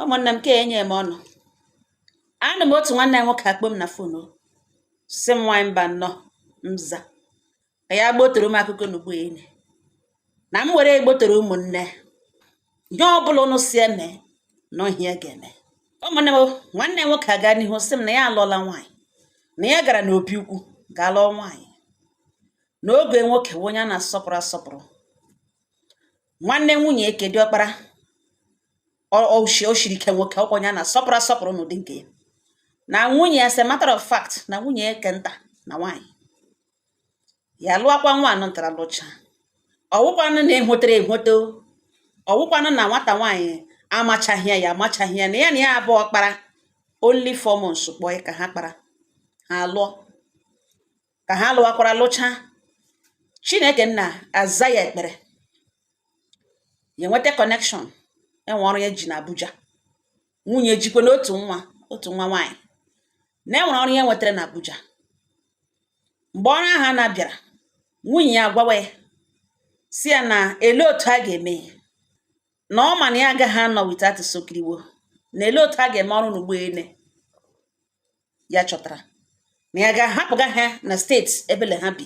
ụmụnne m ka enye m ọnụ anụ m otu nwanne nwoke akpọ m na fon si m nwanyị Mbanọ m za ka ya gbotoro m akụkọ n'ugbo enyi na m were egbotoro ụmụnne ihe ọbụla ụnụ si eme na ọ ihe a ga-eme ụmụnne m nwanne nwoke agaa n'ihu sị m na ya alụọla nwaanyị na ya gara n'obi ukwu gaa lụọ nwaanyị na ọgọ nwoke wụ onye a na-asọpụrụ asọpụrụ nwanne nwunye ya ke dị ọkpara o shiri ike nwoke ọkwa onye a na-asọpụrụ asọpụrụ n'ụdị nke ya na nwunye as a matter of fact na nwunye ya ke nta na nwaanyị ya lụọkwa nwa anụ ntara lụcha ọwụkwanụ na e hotoro ehoto ọwụkwanụ na nwata nwaanyị amachaghị ya ya amachaghị ya na ya na ya abụọ kpara only four months kpọọ ka ha kpara ha lụọ ka ha lụwakwara lụcha chineke nna aza ya ekpere ya enweta connection enwe ọrụ ya ji na abuja nwunye jikwanụ otu nwa otu nwa nwaanyị na e nwere ọrụ ya nwetara na abuja mgbe ọrụ ahụ na bịara nwunye ya agwawa ya si ya na ele otu a ga-eme ya na ọ ma na ya agaghị anọ without Sokiriwo na ele otu a ga-eme ọrụ n'ugbo ele ya chọtara na ya ga-ahapụga ha na state ebele ha bi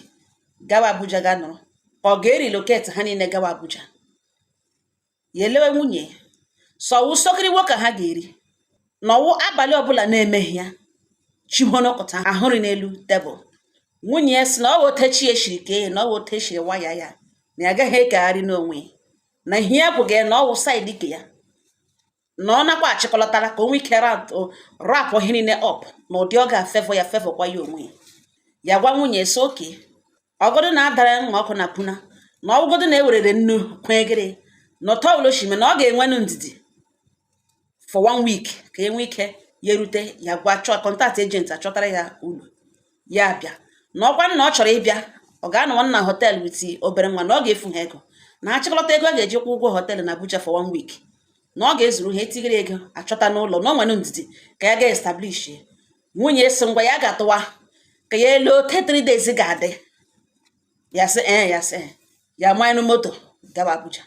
gawa Abuja ga nọrọ ka ọ ga-erelocate ha niile gawa Abuja ya elewe nwunye sị ọwụ sokiriwo ka ha ga-eri na ọwụ abalị ọbụla na-emeghị ya chihonokọta ahụrị n'elu tebụl nwunye ya si na ọ wotechi ya shiri ka na ọ wotechi waya ya na ya agaghị ekegharị n'onwe na ihe ya bụ ga na ọwụ side ke ya na ọ nakwa achịkọlọtara ka o nwee ike wrap ihe niile up na ụdị ọ ga-afavour ya favourkwa ya onwe ya ya gwa nwunye sị okay ọgọdụ na-adara mma ọkụ na puna na ọwụgọdụ na-ewerere nnu kwegịrị na ụtọ uloshime na ọ ga-enwenụ ndidi for one week ka e nwee ike ya erute ya gaa chọọ contact agent achọtara ya ụlọ ya abịa na ọkwanụ na ọ chọrọ ịbịa ọ ga-anọwa na hotel with obere nwa na ọ ga-efu ha ego na achịkọlọta ego a ga-eji kwụọ ụgwọ hotel na Abuja for one week na ọ ga-ezuru ha itigiri ego a chọta n'ụlọ na o nwere ndidi ka ya gaa establish nwunye si ngwa ya ga-atụwa ka ya ele otu three days ga-adị ya sị ee eh, ya sị eh. ya manye moto gawa Abuja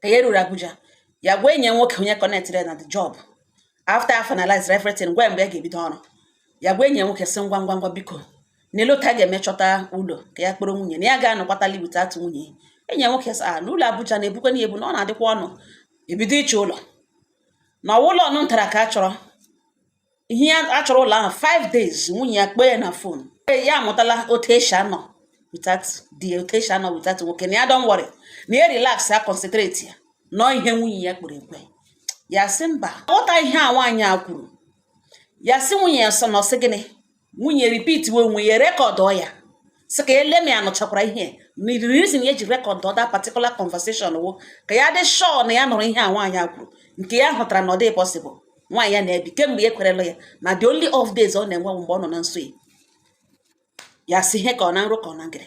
ka ya ruru Abuja ya gwa enyi ya nwoke onye connectịrị ya na the job after a finalize everything gwa ya mgbe ya ga-ebido ọrụ ya gwa enyi ya nwoke sị ngwa ngwa ngwa biko na ele otu a ga-eme chọta ụlọ ka ya kpọrọ nwunye na ya ga-anọkwatali without nwunye enyi ya nwoke sị a na ụlọ Abuja na-ebukwanụ ebu na ọ na-adịkwa ọnụ e bido ịchọ ụlọ na ọwụ ụlọ ọnụ ntara ka a chọrọ ihe ya a chọrọ ụlọ ahụ 5 days nwunye ya kpee ya na fon ya amụtala otu esi anọ without the otu esi anọ without nwoke na ya don't worry na ya relax ya concentrate ya nụọ ihe nwunye ya kpere ekwe ya sị mba ghọta ihe a nwaanyị a kwuru ya sị nwunye ya sọ na ọ sị gịnị nwunye repeat we onwe ya rekọdụ ya sị ka ya lee ma ya nụchakwara ihe na the reason ya ji rekọdụ that particular conversation wụ ka ya dị sure na ya nụrụ ihe a nwaanyị a kwuru nke ya hụtara na ọ dị possible nwaanyị ya na-ebi kemgbe ya ekwerela ya na the only off days ọ na-enwe mgbe ọ nọ na nsọ ya ya sị ihe ka ọ na nrọ ka ọ na ngere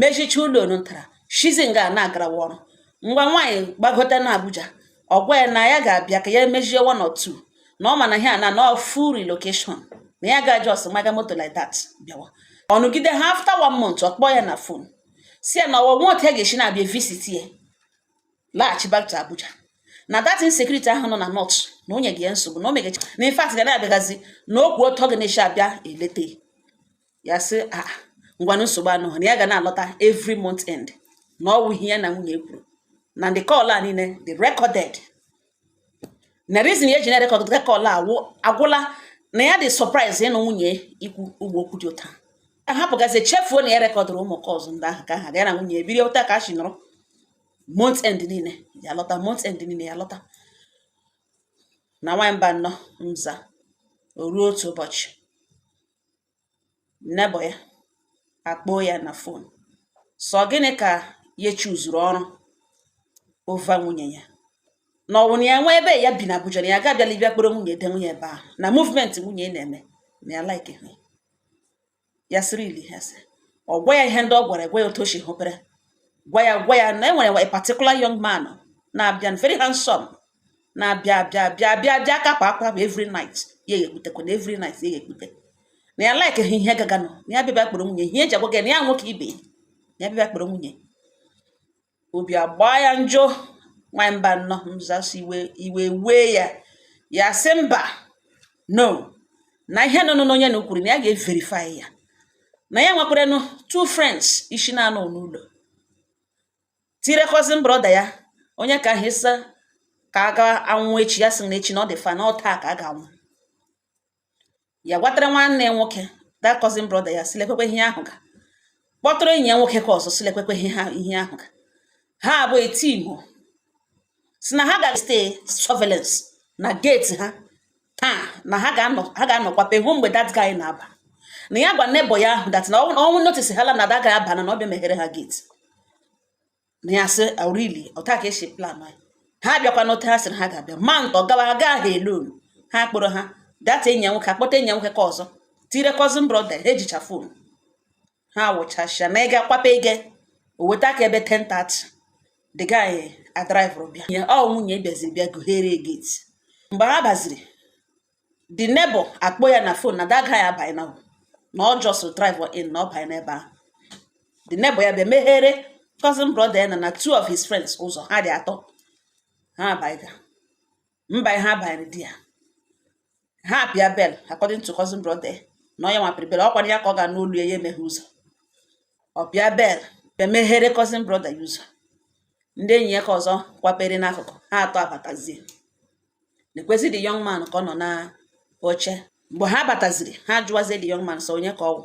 mechicha ụlọ ntara shizi nga na-agarawa ọrụ ngwa nwaanyị gbagota na Abuja ọ gwa ya na ya ga-abịa ka ya emechie one or two na ọ ma na ihe a na na full relocation na ya ga just maga moto like that bịawa ọ nọgide ha after one month ọ kpọọ ya na fon sị ya na ọ wụ nwa otu ya ga-esi na-abịa visit ya laghachi back to Abuja na that insecurity ahụ nọ na north na ọ nyeghị ya nsogbu na o megachi na in fact ga na-abịagazi na ọ wụ otu ọ ga na-esi abịa eleta ya sị a ah, ngwanụ nsogbu anụ na ya ga na-alọta every month end na ọ wụ ihe ya na nwunye kwuru na ndị call a niile dị recorded na reason ya ji na-record call ahụ agwụla na ya dị surprise ịnụ nwunye ikwu ugbo okwu dị otu a ahapụgazi chefuo na ya rekọdụrụ ụmụ calls ndị ahụ ka ha ga ya na nwunye ebiri otu a ka a si nọrọ month end niile ya lọta month end niile ya lọta na nwamba nnọ mza o ruo otu ụbọchị neighbour ya akpọọ ya na fon sị ọ gịnị ka ya chuzuru ọrụ over nwunye ya na ọ wụ na ya nwe ebe ya bi na Abuja na ya ga abịala ịbịa kpọrọ nwunye de nwunye ebe ahụ na movement nwunye na-eme na ya like ha ya sị really ha sị ọ gwa ya ihe ndị ọ gwara gwa ya otu o si hụpere gwa ya gwa ya na e nwere a particular young man na-abịa very handsome na-abịa bịa bịa bịa bịa kapụ akwa bụ every night ya ekputekwa na every night ya ekpute na ya like ha ihe gaganụ na ya bịa kpọrọ nwunye ihe e ji agwa gị na ya nwoke ibe na ya bịa kpọrọ nwunye obi agbaa ya njọ nwanyị mba nnọọ mzasị iwe iwe wee ya ya sị mba no na ihe nọ n'onye na ukwuru na ya ga-everify ya na ya nwekwaranụ two friends isi na-anọ n'ụlọ tire cousin brother ya onye ka ahụ ị sị ka a ga anwụ echi ya sị na echi na ọ dị far na ọ taa ka a ga-anwụ ya gwatara nwanne ya nwoke that cousin brother ya sị lekwekwe ihe ahụ ga kpọtụrụ enyi ya nwoke ka ọzọ sị lekwekwe ihe ahụ ga ha abụọ eti igbo sị na ha ga stay surveillance na gate ha taa na ha ga-anọ kwape hụ mgbe that guy na-aba na ya gwa neighbor ya ahụ that na ọnwụ notice hala na that guy abana ọ bịa meghere ha gate na ya sị really oh, otu a ka e si plan ya ha bịakwa n'ote ha sịrị ha ga-abịa ma ntọ gawa ha gaa ha alone ha kpọrọ ha that enyi ya nwoke akpọta enyi ya nwoke ka ọzọ tire cousin brother ha ejicha phone ha wụchasịa na ịga kwape ige o weta ka ebe 10:30 the guy adriver bịa ya ọ nwunye bịaziri bịa gụghere gate mgbe ha baziri the neighbor akpọ ya na phone na that guy abanyena na ọ just drive in na ọ banye n'ebe ahụ the neighbor ya bịa meghere cousin brother ya na na two of his friends ụzọ ha dị atọ ha abanye mgbe ha banyere di ya ha apịa bell according to cousin brother na ọ ya nwa pịrị bell ọ kwara ya ka ọ ga-anụ olu ya ya emeghe ụzọ ọ pịa bell bịa meghere cousin brother ya ụzọ ndị enyi ya ka ọzọ kwapere n'akụkụ ha atọ abatazie nekwezi the young man ka ọ nọ na oche mgbe ha bataziri ha jụwazie the young man sị ọ onye ka ọ wụ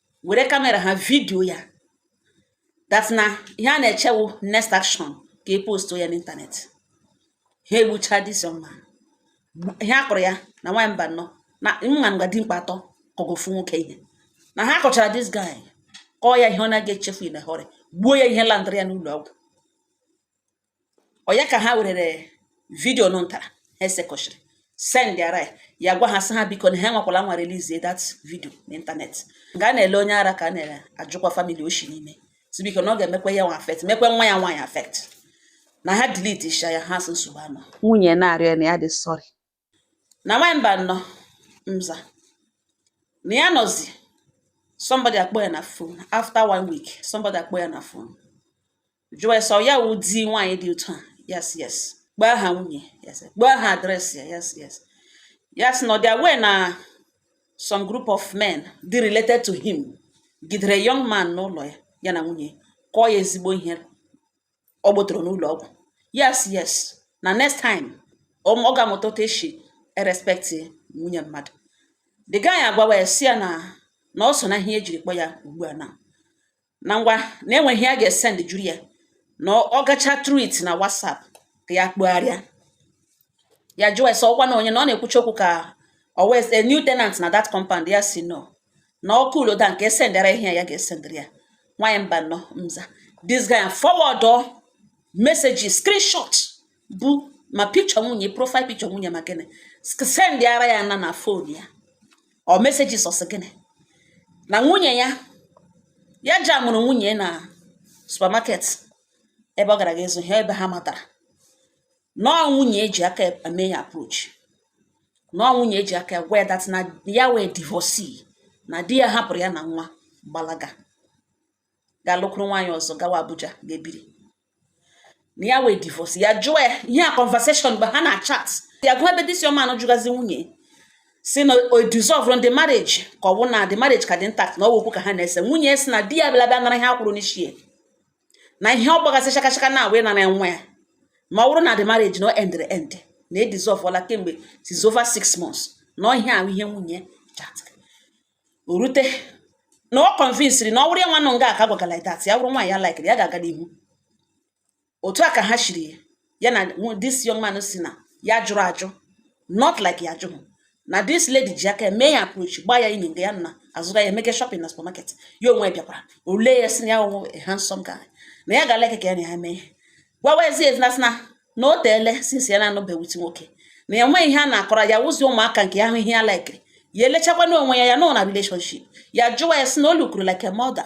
were kamera ha vidio ya that na ihe a na-eche wụ next action ka e post ya n'ịntanetị ha egbucha this young man ihe a kụrụ ya na nwaanyị Mbanọ na nwa nga dimkpa atọ kụgofu nwoke ihe na ha kụchara this guy kụọ ya ihe ọ na-aga echefu in a hurry gbuo ya ihe landịrị ya n'ụlọ ọgwụ ọ ya ka ha werere vidio nụ ntara ha sekọchiri sendara ya ya gwa ha sị ha biko na ha anwakwala nwa release that vidio n'ịntanetị nga a na-ele onye ara ka a na-ajụkwa family o shi n'ime sị biko na ọ ga-emekwa ya nwa affect mekwa nwa ya nwaanyị affect na ha delete isha ya ha sị nsogbu anọ nwunye na-arịọ na ya dị sorry na nwaanyị Mbanọ mza na ya nọzi somebody akpọ ya na phone after one week somebody akpọ ya na phone jụọ sị ọ ya wụ di nwaanyị dị otu a ya sị yes kpọọ aha nwunye yes kpọọ aha adreesị ya ya sị yes ya sị na ọ dị aware na some group of men dị related to him gidere young man n'ụlọ ya ya na nwunye kụọ ya ezigbo ihe ọ gbotoro n'ụlọ ọgwụ ya sị yes na next time ọ ga-amụta otu e si erespect nwunye mmadụ the guy agwawa ya sị ya na na ọ so na ihe e jiri kpọ ya ugbu a na na ngwa na e nwe ihe ya ga-esendụrụ ya na ọ gacha through it na WhatsApp ka ya kpọgharịa ya jụọ ya sị ọkwa na onye na ọ na-ekwuchi okwu ka ọ wụ a new tenant na that compound ya sị no na ọkụ uloda nke esendara ihe ya ga-esendịrị ya nwaanyị Mbanọ mza this guy forward oh, messages screenshot bụ ma picture nwunye profile picture nwunye ma gịnị sendara ya na na phone ya ọ messages ọsị gịnị na nwunye ya ya jamụrụ nwunye na supermarket ebe ọ gara ga ịzụ ihe ebe ha matara na ọ nwunye ji aka mee ya approach na ọ nwunye ji aka gwa ya that na ya wụ a divorcee na di ya hapụrụ ya na nwa gbalaga gaa lụkwuru nwaanyị ọzọ gawa Abuja gaa biri na ya wee divorce ya jụọ ya ihe a conversation mgbe ha na chat ya gụọ ebe this young man jụgazi nwunye sị na o dissolve the marriage ka ọ bụ na the marriage ka dị intact na ọ wụ okwu ka ha na-ese nwunye sị na di ya bịa bịa nara ihe a kwụrụ n'isi na ihe ọ gbagasị chakachaka na wee nara nwa ya ma ọ bụrụ na the marriage na o endere end na e dissolveụla kemgbe since over six months na ihe ahụ ihe nwunye chatịrị o rute na ọ kọnvinsiri na ọ wụrụ ya nwanụ nga aka gwagara like that ya wụrụ nwaanyị ya laikiri ya ga-aga n'ihu otu a ka ha shiri ya ya na this young man sị na ya jụrụ ajụ not like ya jụrụ na this lady ji aka mee ya approach gba ya inyi nga ya na-azụga ya emake shopping na supermarket ya onwe bịakwara olee ya sị na ya onwe a handsome guy na ya ga-alike ka ya na ya mee gwawa ezi ezi na sị na na o teele since ya na-anọbeghị with nwoke na ya nweghị ihe a na-akọrọ ya wụzi ụmụaka nke ya hụ ihe ya laikiri ya elechakwana onwe ya ya nọ na relationship ya jụwa ya sị na o lookuru like a mother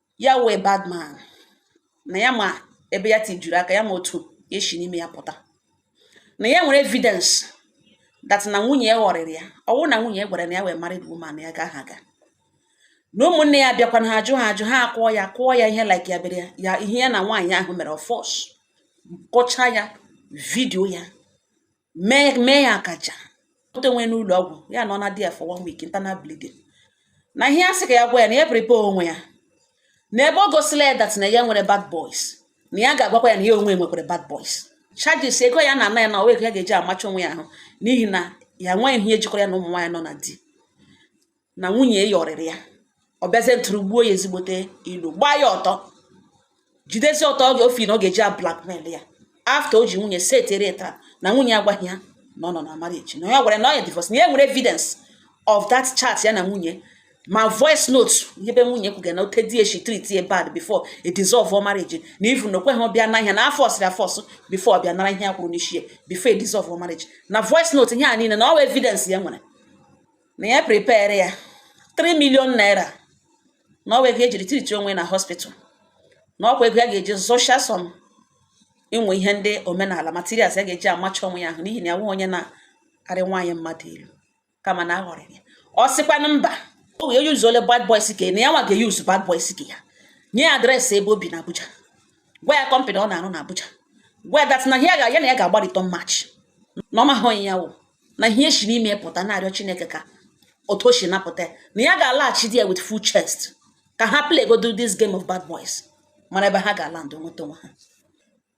ya wụ a bad man na ya ma ebe ya tijuru aka ya ma otu ya esi n'ime ya pụta na ya nwere evidence that na nwunye ya ghọrịrị ya ọ wụrụ na nwunye ya gwara na ya wụ a married woman ya agaha aga na ụmụnne ya bịakwa na ha ajụha ajụ ha akụọ ya kụọ ya ihe like ya bere ya ihe ya na nwaanyị ahụ mere ọ force kọcha ya video ya mee ya akaja o tee onwe n'ụlọ ọgwụ ya nọ na there for one week internal bleeding na ihe ya sị ka ya gwa ya na ya prepare onwe ya na ebe ọ gosila ya that na ya nwere bad boys na ya ga-agwakwa ya na ya onwe nwekwara bad boys charges ego ya na-ana ya na ọ wụ ego ya ga-eji amacha onwe ya ahụ n'ihi na ya nweghị ihe jikọrọ ya na ụmụ nwaanyị nọ na di na nwunye ya ghọrịrị ya ọ bịazie tigbuo ya ezigbote ilu gbaa ya ọtọ jidezi ọtọ oge ofi na ọ ga-eji ablackmail ya after o ji nwunye setere taa na nwunye agwaghị ya na ọ nọ na marriage na ya gwara na ọ ya divorce na ya nwere evidence of that chat ya na nwunye ma voice note ebe nwunye kwuga na otu di eshi treat ye bad before e dissolve ọ marriage na even na o kweghị abịa na ihe na a forceiri ya force before ọ bịa nara ihe ya kwụrụ n'isi ya before e dissolve ọ marriage na voice note ihe a niile na ọ evidence ya nwere na ya prepare ya 3 million naira na ọ wụ ego e jiri treat onwe na hospital na ọ kwa ego ya ga-eji zụcha some inwe ihe ndị omenala materials ya ga-eji amacha onwe ya ahụ n'ihi na ya onye na-arị nwaanyị mmadụ elu kama na a ghọrịrị ya ọ sịkwanụ mba o wee useuole bad boys ke na ya nwa ga-euse bad boys ke ya nye ya address ebe o bi na Abuja gwa ya company ọ na-arụ na Abuja gwa ya that na ya na ya ga-agba return match na ọ maha onye ya wụ na ihe esi n'ime ya pụta na-arịọ chineke ka otu o si napụta ya na ya ga-alaghachi di ya with full chest ka ha playgodu this game of bad boys mara ebe ha ga-ala ndụ nweta onwe ha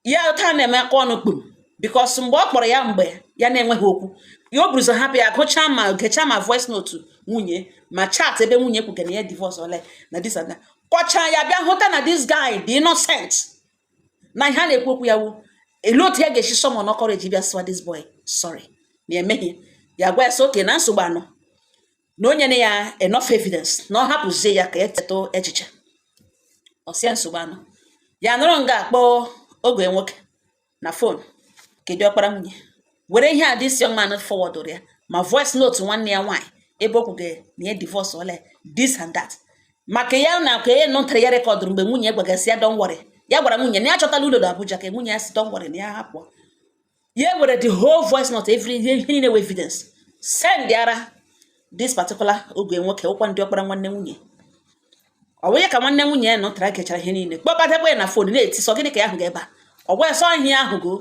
ya otu a na-eme aka ọnụ kpum because mgbe ọ kpọrọ ya mgbe ya na-enweghị okwu ya o buruzo hapụ ya gụchaa ma gechaa ma voice note nwunye ma chat ebe nwunye kwuga na ya divorce ole na this and that kọchaa ya bịa hụta na this guy dị innocent na ihe a na-ekwu okwu ya wu ele otu ya ga-esi summon courage bịa sịwa this boy sorry na emehie ya gwa ya sị okay na nsogbu anọ na o nyena ya enough evidence na ọ hapụzie ya ka ya chetụ echiche ọ sị ya nsogbu anọ ya nọrọ nga a kpọọ ọgọ ya nwoke na phone ke diọkpara nwunye were ihe a this young man forwardụrụ ya ma voice note nwanne ya nwaanyị ebe o kwuge na ya divorce ole this and that maka ya na ka ya nụtara ya recordụrụ mgbe nwunye gwagasị ya don't worry ya gwara nwunye na ya chọtala ụlọ na Abuja ka nwunye ya sị don't worry na ya hapụ ya were the whole voice note every ihe niile with evidence sendara this particular ọgọ ya nwoke wụkwanụ diọkpara nwanne nwunye ọ bụ ya ka nwanne nwunye ya nụtara gechara ihe niile kpọkọtakwa ya na phone na-eti sị ọ gịnị ka ya hụga ebe a ọ gwara sọ ihe ahụ go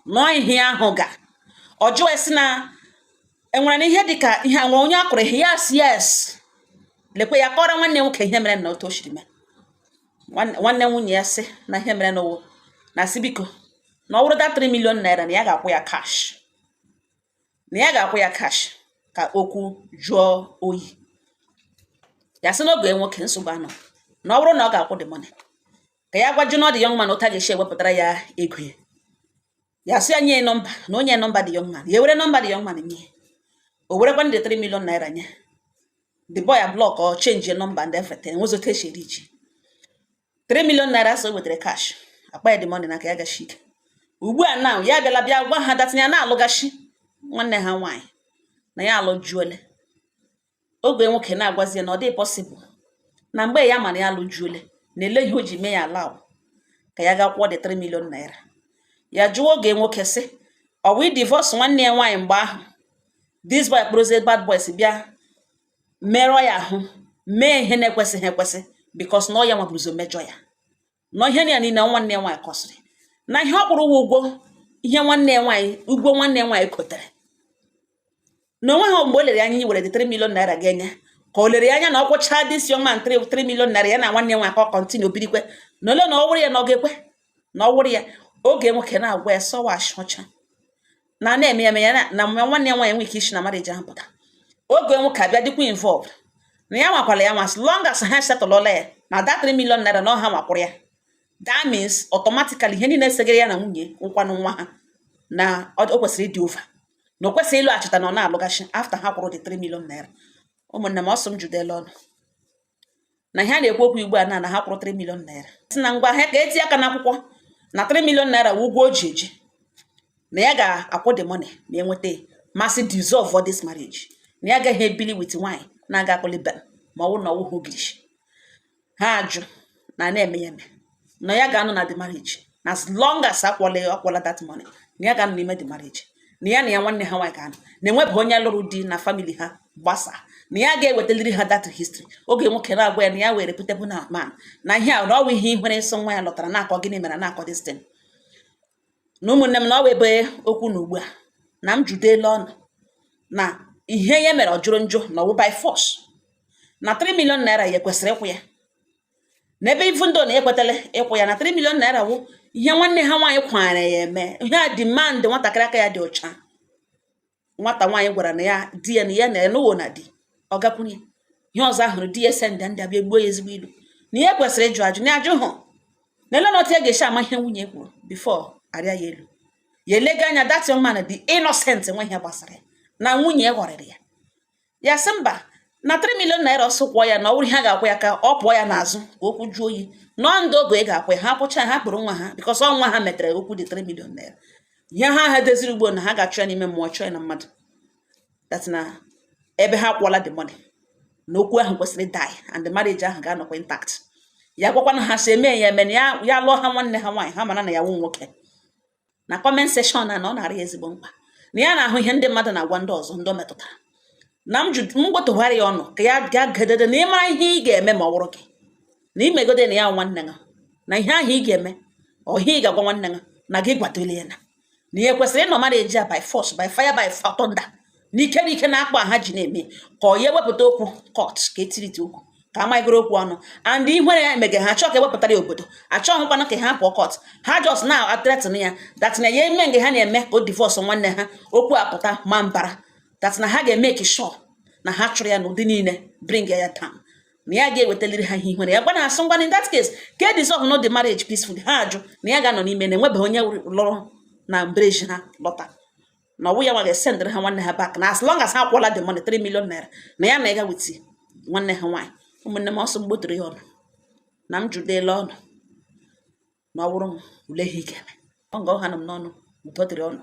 nọọ ihe ahụ ga ọ jụọ sị na enwere na ihe dịka ihe a nwere onye a kụrụ ihe yes yes lekwe ya kọrọ nwanne nwoke ihe mere na otu o siri mee Nwanne nwanne nwunye ya sị na ihe mere n'ụwa na sị biko na ọ bụrụ the 3 million naira na ya ga-akwụ ya cash na ya ga-akwụ ya cash ka okwu jụọ oyi ya sị na ọgọ ya nwoke nsogbu anọ na ọ bụrụ na ọ ga-akwụ the money ka ya gwazienụ the young man otu a ga-esi ewepụtara ya ego ya ya sị ya nye nọmba na o nye nọmba the young man ya were nọmba the young man nye o werekwanụ the 3 million naira nye the boy ya block ọ change your number and everything nwezo otu o si richaa 3 million naira so wetara cash kpaa ya the money n'aka ya gashi ike ugbu a now ya bịala bịa gwa ha that na ya na-alụgashi nwanne ha nwaanyị na ya alụjuole ọgọ ya nwoke na-agwazi ya na ọ dị possible na mgbe ya mara ya alụjuole na ele ihe o ji mee ya allow ka ya ga kwụọ the 3 million naira ya jụọ ọgọ ya nwoke sị ọ wụ divorce nwanne ya nwaanyị mgbe ahụ this boy kpọrọzie bad boys bịa merụọ ya ahụ mee ihe na-ekwesịghị ekwesị because na ọ ya nwa buruzo mejọ ya na ihe na ya niile nwanne ya nwaanyị kọsịrị na ihe ọ kwụrụ ụgwọ ihe nwanne ya nwaanyị ụgwọ nwanne ya nwaanyị kotere na o nweghị mgbe o lere anya iwere the 3 million naira ga-enye ka o lere ya anya na ọ kwụchaa this young man 3 million naira ya na nwanne ya nwaanyị ka ọ continue birikwe na ole na ọ wụrụ ya na ọ ga-ekwe na ọ wụrụ ya ọgọ ya nwoke na-agwa ya sị ọ wụ ashị ọcha na na-eme ya ya na nwanne ya nwaanyị nwe ike isi na marriage ahụ pụta oge nwoke abịa dịkwa involved na ya anwakwala ya anwa as long as ha settlela ya na that 3 million naira na ọ ha nwa kwụrụ ya that means automatically ihe niile segara ya na nwunye nkwanụ nwa ha na o kwesịrị ịdị over na o kwesịrị ịlụghachita na ọ na-alụghachi after ha kwụrụ the 3 million naira ụmụnne m ọ sị m jụdela unu na ihe a na-ekwu okwu ugbu a na na ha kwụrụ 3 million naira sị na ngwa ha ka eti aka n'akwụkwọ na 3 million naira wụ ụgwọ o ji eji na ya ga-akwụ the money ma enweta ya ma sị dissolve for this marriage na ya agaghị ebili with nwanyị na-aga akpụlibe ma ọ wụ na ọ wụ ha ogirishi ha ajụ na na-eme ya eme na ya ga-anọ na the marriage na as long as a kwụọla a kwụọla that money na ya ga-anọ n'ime the marriage na ya na ya nwanne ha nwaanyị ga-anọ na enwebeghị onye lụrụ di na family ha gbasaa na ya ga-ewetaliri ha that history oge nwoke na-agwa ya na ya wụ reputable man na ihe a na ọ wụ ihe ihere nsọ nwa ya lọtara na-akọ gịnị mere na-akọ this thing na ụmụnne m na ọ wụ ebe okwu nọ ugbu a na m jụdela unu na ihe ya mere ọ jọrọ njọ na ọ wụ by force na 3 million naira ya kwesịrị ịkwụ ya na ebe even though na ekwetala ịkwụ ya na 3 million naira wụ ihe nwanne ha nwaanyị gwara ya eme ihe a demand nwatakịrị aka ya dị ọcha nwata nwaanyị gwara na ya di ya na ya na enuwo na di ọ gakwunye ihe ọzọ ahụrụ di ya send ndị abịa gbuo ya ezigbo ilu na ihe kwesịrị ịjụ ajụ na ajụ hụ na ele na otu ya ga-esi ama ihe nwunye kwuru before arịa ya elu ya elega anya that young man dị innocent nwe ihe gbasara ya na nwunye ghọrịrị ya ya sị mba na 3 million naira ọ sị kwụọ ya na ọ bụrụ ha ga-akwụ ya ka ọ pụọ ya n'azụ ka okwu jụọ oyi na ọ ndị ọgọ ga-akwụ ya ha kwụcha ha kpụrụ nwa ha because ọ nwa ha metere okwu the 3 million naira ihe ha ha deziri ugbo na ha ga-achọ ya n'ime mmụọ chọọ ya na mmadụ that na ebe ha kwụọla the money na okwu ahụ kwesịrị die and the marriage ahụ ga-anọkwa intact ya gwakwana ha sị eme ya eme ya ya lụọ ha nwanne ha nwaanyị ha mara na ya wụ nwoke na comment section na ọ na-arị ezigbo mkpa na ya na-ahụ ihe ndị mmadụ na-agwa ndị ọzọ ndị metụtara na m gwatụhara ya unu ka ya gaa gedede na ị mara ihe ị ga-eme ma ọ wụrụ gị na i megode na ya wụ nwanne gị na ihe ahụ ị ga-eme or ihe ị ga-agwa nwanne gị na gị gwatụlie ya na ihe kwesịrị ịnọ mmadụ eji ya by force by fire by thunder n'ike n'ike na akpa ha ji na-eme ka ọ ya ewepụta okwu court ka etiriti okwu ka amaghịgoro okwu ọnụ and ihere ya emege ha achọ ka ewepụtara ya obodo achọghị kwana ka ha pụọ court ha just na a threaten ya that na ya eme nge ha na-eme ka o divorce nwanne ha okwu apụta na mbara that na ha ga-eme ka sure na ha chụrụ ya n'ụdị niile bring ya down na ya ga-ewetaliri ha ihe ihere ya gwa na asị ngwanụ in that case ka e dissolve nụ the marriage peacefully ha ajụ na ya ga-anọ n'ime na enwebeghị onye lụrụ na village ha lọta na ọwụ ya nwa ga-esendịrị ha nwanne ha back na as long as ha kwụọla the money 3 million naira na ya na ịga witi nwanne ha nwaanyị ụmụnne m ọ sị m gbotoro ya ọnụ na m jụdela ọnụ na ọ wụrụ m ule ihe ike ọ nga ha nọ m n'ọnụ ụtọ dịrị ọnụ